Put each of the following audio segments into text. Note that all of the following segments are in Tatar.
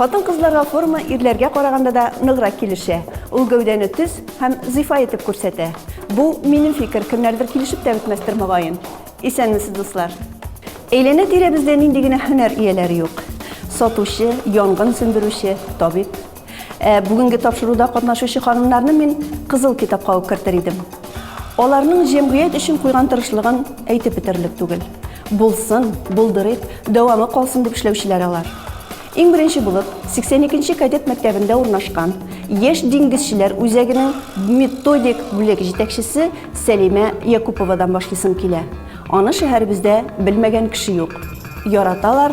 Хатын-кызларга форма ирләргә караганда да ныграк килешә. Ул гәүдәне төз һәм зифа итеп күрсәтә. Бу, минем фикер, кемнәрдер килешеп тә бетмәстер, мөгаен. Исәнмесез, дуслар! Әйләнә-тирәбездә нинди генә һөнәр ияләре юк! Сатучы, янгын сүндерүче, табиб. Ә бүгенге тапшыруда катнашучы ханымнарны мин кызыл китапка ук кертер идем. Аларның җәмгыять өчен куйган тырышлыгын әйтеп бетерлек түгел. Булсын, булдырыйк, дәвамы калсын дип эшләүчеләр алар. Иң беренче булып 82-нче кадет мәктәбендә урнашкан яшь диңгезчеләр үзәгенең методик бүлек җитәкчесе Сәлимә Якуповадан башлыйсым килә. Аны шәһәребездә белмәгән кеше юк. Яраталар,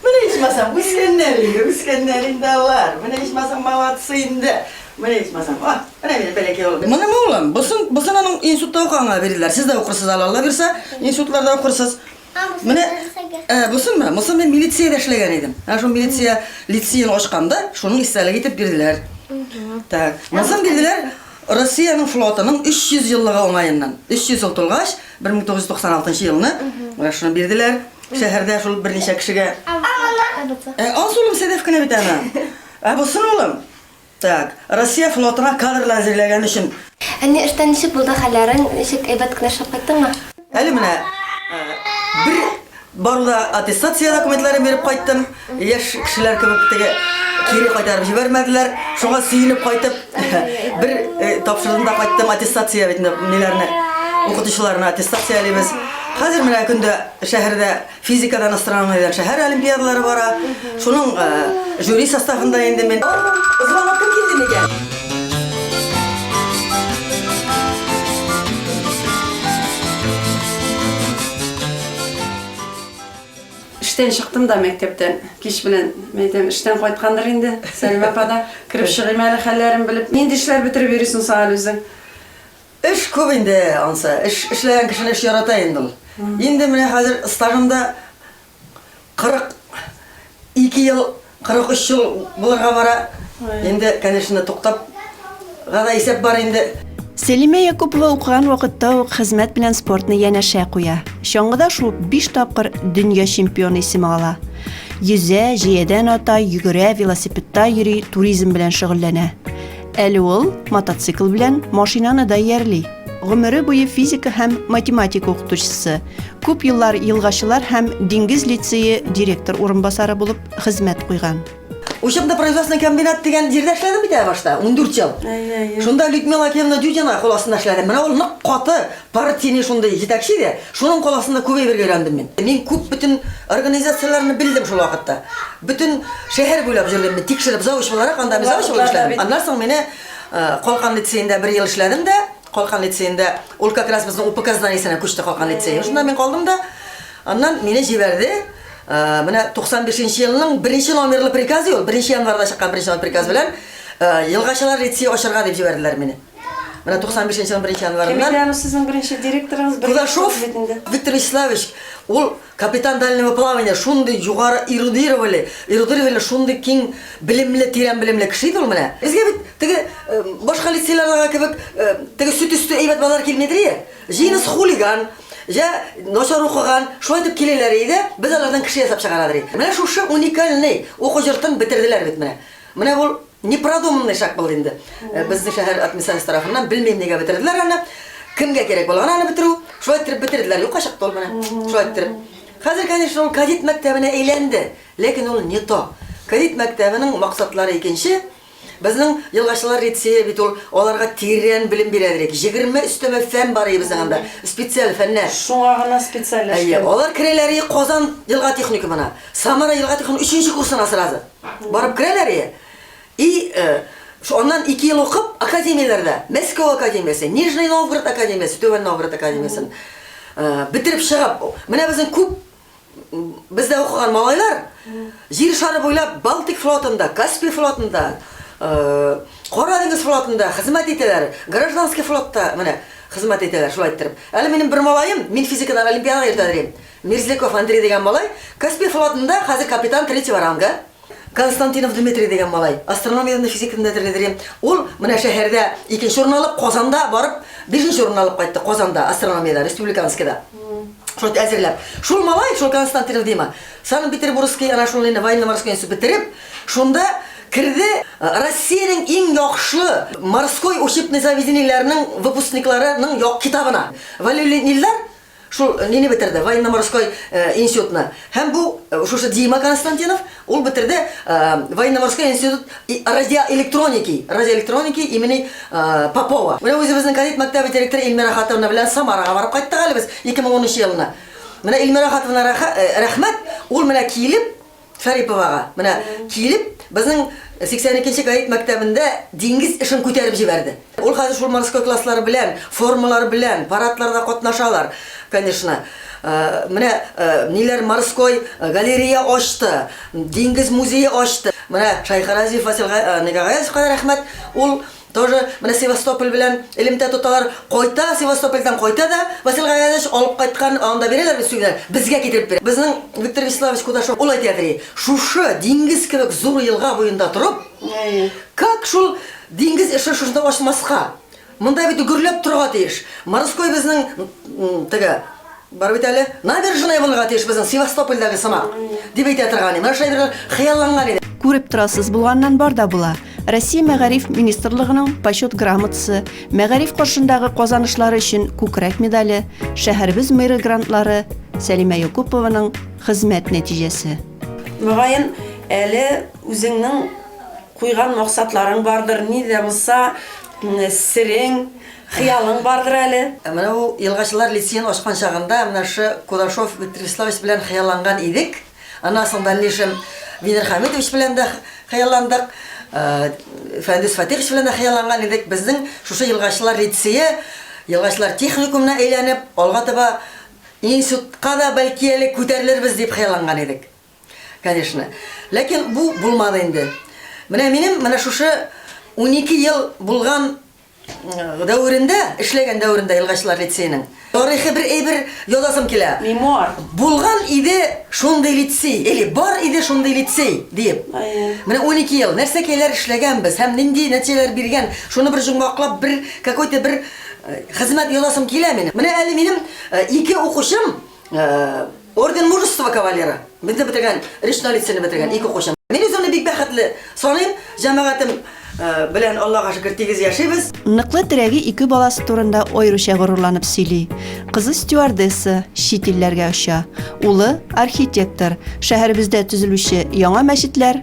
Менә ичмасам, үскәннәр инде, үскәннәр инде алар. Менә ичмасам, молодцы инде. Менә ичмасам, о, менә минем бәләкәй улым. Моның улым, бусын, бусын аның институтта укыганга бирделәр. Сез дә укырсыз әле, Алла бирсә, институтларда укырсыз. Менә, ә, бусынмы? Мосын мин милициядә эшләгән идем. Ә шул милиция лицеен ачканда, шуның истәлеге итеп бирделәр. Так, мосын бирделәр Россиянең флотының 300 еллыгы уңаеннан. 300 ел тулгач, 1996 елны шуны бирделәр. Шәһәрдә шул берничә кешегә. Ә аз улым сәдәф кенә бит ана. Ә бу сын улым. Так, Россия флотына кадрлар әзерләгән өчен. Әни, эштән ничек булды хәлләрең? Ничек әйбәт кенә эшләп кайттыңмы? Әле менә бер Барды да аттестация документларын биреп кайттым. Яшь кешеләр кебек теге кире кайтарып җибәрмәделәр. Шуңа сөенеп кайтып, бер тапшырдым да кайттым аттестация бит ниләрне укытучыларны аттестациялибез. Хәзер менә көндә шәһәрдә физикадан астрономиядән шәһәр олимпиадалары бара. Шуның жюри составында инде мин. Звонок кем килде микән? Эштән чыктым да мәктәптән. Кич белән мәйдәм эштән кайткандыр инде. Сәлимә апа да кереп чыгыйм әле хәлләрен белеп. Нинди эшләр бетереп йөрисең соң әле үзең? Эш күп инде, ансы. Эш эшләгән кешене эш ярата инде ул. Инде менә хәзер стажымда 42 ел. 43 ел булырга бара инде, конечно, туктап га да исәп бар инде. Сәлимә Якупова укыган вакытта ук хезмәт белән спортны янәшә куя. Чаңгыда шуып биш тапкыр дөнья чемпионы исеме ала. Йөзә, җәядән ата, йөгерә, велосипедта йөри, туризм белән шөгыльләнә. Әле ул мотоцикл белән машинаны да иярли. Гомере буе физика һәм математика укытучысы, Күп еллар Елгачылар һәм Диңгез лицее директор урынбасары булып хезмәт куйган. Учебно-производственный комбинат дигән җирдә эшләдем бит әле башта, ундүрт ел. Шунда Людмила Акимовна Дюдина кул астында эшләдем. Менә ул нык каты, партийный шундый җитәкче иде. Шуның кул астында күп әйбергә өйрәндем мин. Мин күп бөтен организацияләрне белдем шул вакытта. Бөтен шәһәр буйлап җөрдем мин, тикшереп, завуч буларак, анда мин завуч булып эшләдем. Аннан соң мине Калкан лицеенда бер ел эшләдем дә. Калкан лицеенда ул как раз безнең УПК зданиесенә күчте Калкан лицее. Шунда мин калдым да, аннан мине җибәрде. Менә 95 нче елның беренче номерлы приказы ул, беренче январьда чыккан беренче номерлы приказ белән Елгачылар лицее ачарга дип җибәрделәр мине. Менә 95 нче елның беренче январеннан. Кем иде аны сезнең беренче директорыгыз? Кудашов Виктор Вячеславович, ул Капитан дальнего плавания шундый югары эрудировали, эрудировали шундый киң белемле, тирән белемле кеше иде ул менә. Безгә бит теге башка лицейлардагы кебек теге сөт өсте әйбәт балалар килмидер ие. Җинис хулиган, я начар укыган, шулай дип киләләр иде, без алардан кеше ясап чыгарадыр. Менә шушы уникальный уку йортын бетерделәр бит менә. Менә бу Непродуманный шаг булды инде. Э, Безнең шәһәр администрациясе тарафыннан белмим нигә бетерделәр аны. Кемгә кирәк булган аны бетерү? Шулай иттереп бетерделәр. Юкка чыкты ул менә. Шулай иттереп. Хәзер, конечно, ул кадет мәктәбенә әйләнде, ләкин ул не то. Кадет мәктәбенең максатлары икенче. Безнең елгачылар лицее бит ул аларга тирән белем бирә дирек. 20 өстәмә фән бар иде безнең анда. Специаль фәннәр. Шуңа гына Әйе, специальләшкән. алар керәләр и Казан елга техникумына. Самара елга техникумы өченче курсына сразу. Барып керәләр и, и э, ш- аннан ике ел укып, академияләрдә, Мәскәү академиясе, Нижний Новгород академиясе, Түбән Новгород академиясен э, бетереп чыгып, менә безнең күп м, бездә укыган малайлар җир шары буйлап Балтик флотында, Каспий флотында, э, Кара диңгез флотында хезмәт итәләр, гражданский флотта менә хезмәт итәләр, шулай иттереп. Әле минем бер малаем, мин физикадан олимпиадага йөртәләр идем. Мерзляков Андрей дигән малай Каспий флотында хәзер капитан третьего ранга. Константинов Дмитрий дигән малай астрономиядән физикнедер дидер ем. Ул менә шәһәрдә икенче урын алып, Казанда барып бишенче урын алып кайтты, Казанда астрономиядә, республиканскийда. Шул әзерләп. Шул малай, шул Константинов дима, Санкт-Петербургский ана шул инде военно-морской институт бетереп, шунда керде Россиянең иң яхшы морской учебный заведениеләренең выпускникларының як китабына. Вәлиуллин Илдар Шул нине бетерде, военно-морской институтны. Һәм бу, шушы Дима Константинов, ул бетерде военно-морской институт радиоэлектроники, радиоэлектроники имени Попова. Менә үзебезнең кадет мәктәбе директоры Илмира Хатовна белән Самарага барып кайттык әле без 2010 нчы елны. Менә Илмира Хатовна рәхмәт, ул менә килеп, Шариповага, менә, килеп, безнең 82 нче гает мәктәбендә диңгез эшен күтәреп җибәрде. Ул хәзер шул морской класслар белән, формалар белән, парадларда катнашалар, конечно. Менә ниләр, морской галерея ачты, диңгез музее ачты. Менә Шайхразиев Васил Га, Гаязовка да рәхмәт, ул, Тоже менә Севастополь белән элемтә тоталар, кайта Севастопольдән кайта да, Васил Гайнәдович алып кайткан, анда бирәләр бит сүгенә, безгә китереп бирә. Безнең Виктор Вячеславович Кудашов ул әйтә ди, шушы диңгез кебек зур елга буенда торып, как шул диңгез эше шушында ачмаска? Монда бит гөрләп торырга тиеш. Морской безнең теге. Бар бит әле, набережная булырга тиеш безнең Севастопольдагы сымак, дип әйтә торган идем. Менә шулай итеп хыялланган идем. Күреп торасыз, булганнан бар да була. Россия Мәгариф министрлыгының Почет грамотасы, мәгариф каршындагы казанышлары өчен Күкрәк медале, шәһәребез мэры грантлары, Сәлимә Якупованың хезмәт нәтиҗәсе. Мөгаен, әле үзеңнең куйган максатларың бардыр, ни дә булса, серең. Хыялың бардыр әле? Ә менә ул Елгачылар лицеен ачкан чагында менә шушы Кудашов Виктор Вячеславович белән хыялланган идек. Аннан соң дальнейшем Винер Хәмитович белән дә хыялландык, Фәндүс Фатихович белән дә хыялланган идек. Безнең шушы Елгачылар лицее Елгачылар техникумына әйләнеп, алга таба институтка да бәлки әле күтәрелербез дип хыялланган идек, конечно. Ләкин бу булмады инде. Менә минем менә шушы унике ел булган дәверендә, эшләгән дәверендә Елгачлар лицееның тарихы бер әйбер язасым килә. Мемуар. Булган иде шундый лицей, или бар иде шундый лицей диеп. Менә 12 ел нәрсә кәйләр эшләгәнбез һәм нинди нәтиҗәләр биргән, шуны бер җомгаклап, бер какой-то бер э, хезмәт язасым килә минем. Менә әле минем э, ике укучым э, орден мужества кавалера. Мине бетергән, речной лицены бетергән, ике кошым. Мин үземне бик бәхетле саныйм, җәмәгатем э, белән Аллага шөкер тигез яшибез. Ныклы терәге ике баласы турында аеруча горурланып сөйли. Кызы стюардесса, чит илләргә оча. Улы архитектор, шәһәребездә төзелүче яңа мәчетләр,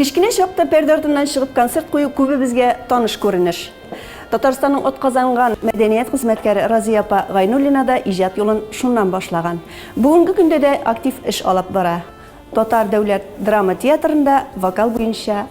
Кечкенә чакта пәрдә артыннан чыгып концерт кую күбебезгә таныш күренеш. Татарстанның отказанган мәдәният хезмәткәре Разия апа Гайнуллина да иҗат юлын шуннан башлаган. Бүгенге көндә дә актив эш алып бара. Татар дәүләт драма театрында вокал буенча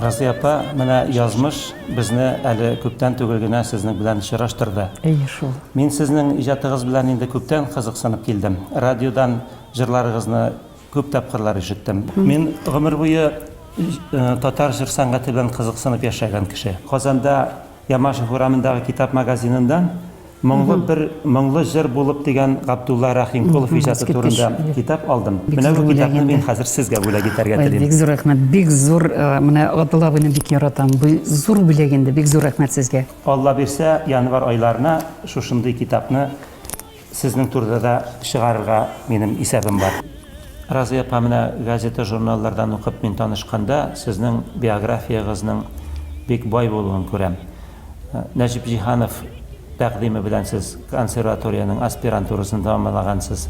Разыя апа, менә язмыш безне әле күптән түгел генә сезнең белән очраштырды. Әйе шул. Мин сезнең иҗатыгыз белән инде күптән кызыксынып килдем. Радиодан җырларыгызны күп тапкырлар ишеттем. Мин гомер буе татар җыр сәнгате белән кызыксынып яшәгән кеше. Казанда Ямашев урамындагы китап магазинында Моңлы бер моңлы җыр булып дигән Габдулла Рәхимкулов иҗаты турында китап алдым. Менә бу китапны мин хәзер сезгә бүләк итәргә Ой, телим. бик зур рәхмәт, бик зур, э, менә Габдулла абыйны бик яратам. Бу зур бүләк инде, бик зур рәхмәт сезгә. Алла бирсә, январь айларына шушындый китапны Сезнең турыда да чыгарырга минем исәбем бар. Разыя апа, менә газета-журналлардан укып мин танышканда, сезнең биографиягызның бик бай булуын күрәм. Нәҗип Җиһанов тәкъдиме белән сез консерваториянең аспирантурасын тәмамлагансыз.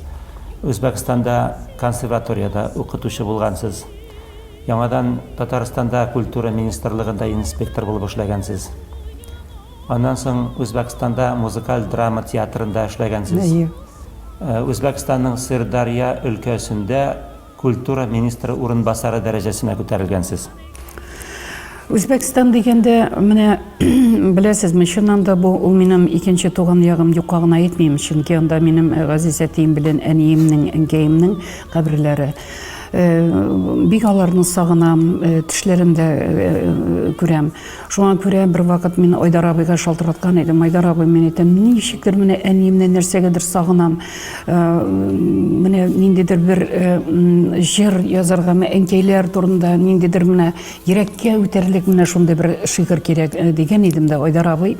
Үзбәкстанда консерваториядә укытучы булгансыз. Яңадан Татарстанда культура министрлыгында инспектор булып эшләгәнсез. Аннан соң Үзбәкстанда музыкаль драма театрында эшләгәнсез. Әйе. Үзбәкстанның Сырдарья өлкәсендә культура министры урынбасары дәрәҗәсенә күтәрелгәнсез. Үзбәкстан дигәндә, менә беләсезме, чыннан да бу ул минем икенче туган ягым юкка гына әйтмим, чөнки анда минем газиз әтием белән әниемнең, әнкәемнең каберләре. Бик аларны сагынам, төшләрендә күрәм. Шуңа күрә бервакыт мин Айдар абыйга шалтыраткан идем. Айдар абый, мин әйтәм, ничектер менә әниемнән нәрсәгәдер сагынам. Э, менә ниндидер бер э, җыр язарга, менә әнкәйләр турында ниндидер менә йөрәккә үтәрлек менә шундый бер шигырь кирәк э, дигән идем дә Айдар абый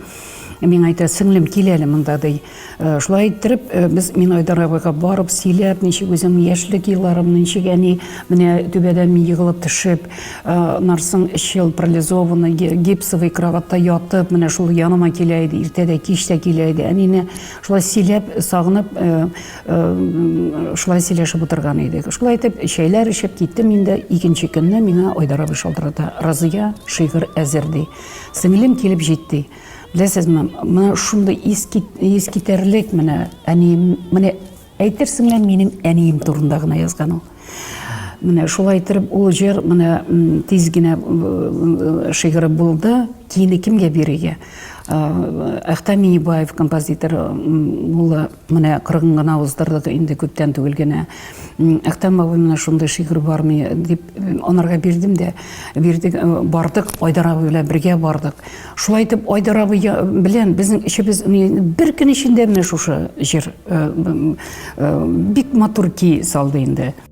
миңа әйтә, сеңлем, кил әле монда, ди. Э, шулай иттереп э, без мин айдар абыйга барып сөйләп ничек үзем яшьлек елларым ничек әни менә түбәдән мин егылып төшеп э, нарсын өч ел парализованный гипсовый кроватьта ятып менә шул яныма килә иде иртә дә кич тә килә иде әнине шулай сөйләп сагынып шулай сөйләшеп утырган идек шулай итеп чәйләр эчеп киттем инде икенче көнне миңа айдар абый шалтырата разыя шигырь әзер ди сеңлем килеп җитте Беләсезме, менә шундый искитәрлек менә әнием, менә әйтерсең лә минем әнием турында гына язган ул. Менә шулай итеп ул җыр менә тиз генә шигыры булды. Киене кемгә бирергә? Әхтәм Минебаев композитор улы Менә кырыгын гына уздырдык инде күптән түгел генә. Әхтәм бабай менә шундый шигырь бармы дип анарга бирдем дә, бирдек, э, бардык, Айдар абый белән бергә бардык. Шулай итеп, Айдар абый белән безнең эшебез бер көн эчендә менә шушы җыр э, э, бик матур ки салды инде.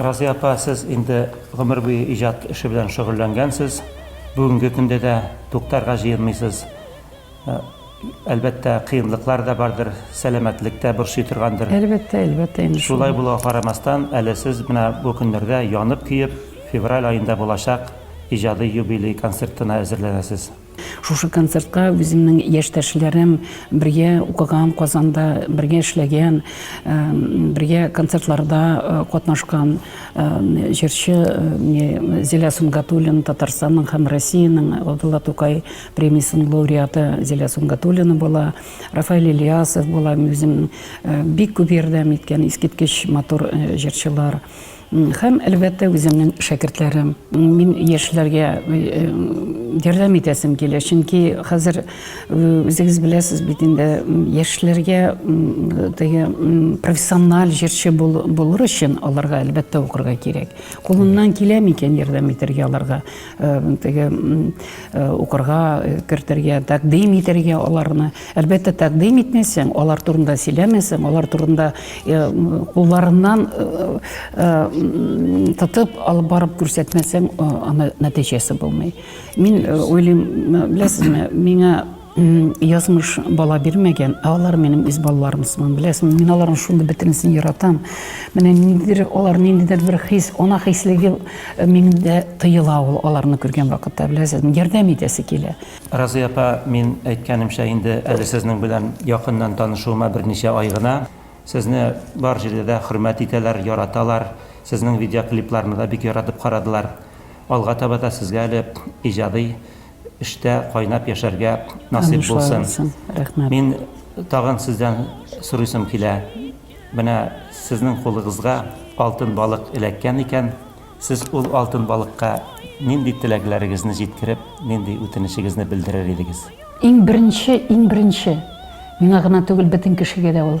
Разия апа, сез инде гомер буе иҗат эше белән шөгыльләнгәнсез. Бүгенге көндә дә туктарга җыенмыйсыз. Әлбәттә, кыенлыклар да бардыр, сәламәтлек тә борчый торгандыр. Әлбәттә, әлбәттә инде шул. Шулай булуга карамастан, әле сез менә бу көннәрдә янып-көеп, февраль аенда булачак иҗади юбилей концертына әзерләнәсез. Шушы концертка үземнең яшьтәшләрем, бергә укыган, Казанда бергә эшләгән, бергә концертларда катнашкан җырчы Зилә Сөнгатуллина, Татарстанның һәм Россиянең Габдулла Тукай Премиясенең лауреаты Зилә Сунгатуллина була, Рафаэль Ильясов була, мин үзем бик күп ярдәм иткән, искиткеч матур җырчылар. Һәм, әлбәттә, үземнең шәкертләрем. Мин яшьләргә ярдәм итәсем килә, чөнки хәзер үзегез беләсез бит инде, яшьләргә теге профессиональ җырчы булыр өчен аларга, әлбәттә, укырга кирәк. Кулымнан килә микән ярдәм итәргә аларга? теге укырга кертергә, тәкъдим итәргә аларны. Әлбәттә, тәкъдим итмәсәң, алар турында сөйләмәсәң, алар турында кулларыннан тотып алып барып күрсәтмәсәң, аны нәтиҗәсе булмый. Мин уйлыйм, беләсезме, миңа Язмыш бала бирмәгән, ә алар минем үз балаларым сыман. Беләсеңме, мин аларның шундый бөтенесен яратам. Менә ниндидер алар ниндидер бер хис, ана хислеге э, миндә тыела ул аларны күргән вакытта, беләсезме, ярдәм итәсе килә. Разыя апа, мин әйткәнемчә, инде әле сезнең белән якыннан танышуыма берничә ай гына. Сезне бар җирдә дә хөрмәт итәләр, яраталар. Сезнең видеоклипларны да бик яратып карадылар. Алга таба да сезгә әле иҗади эштә кайнап яшәргә насыйп булсын. Рәхмәт. Мин тагын сездән сорыйсым килә. Менә сезнең кулыгызга алтын балык эләккән икән, сез ул алтын балыкка нинди теләкләрегезне җиткереп, нинди үтенечегезне белдерер идегез? Иң беренче, иң беренче, миңа гына түгел, бөтен кешегә дә ул.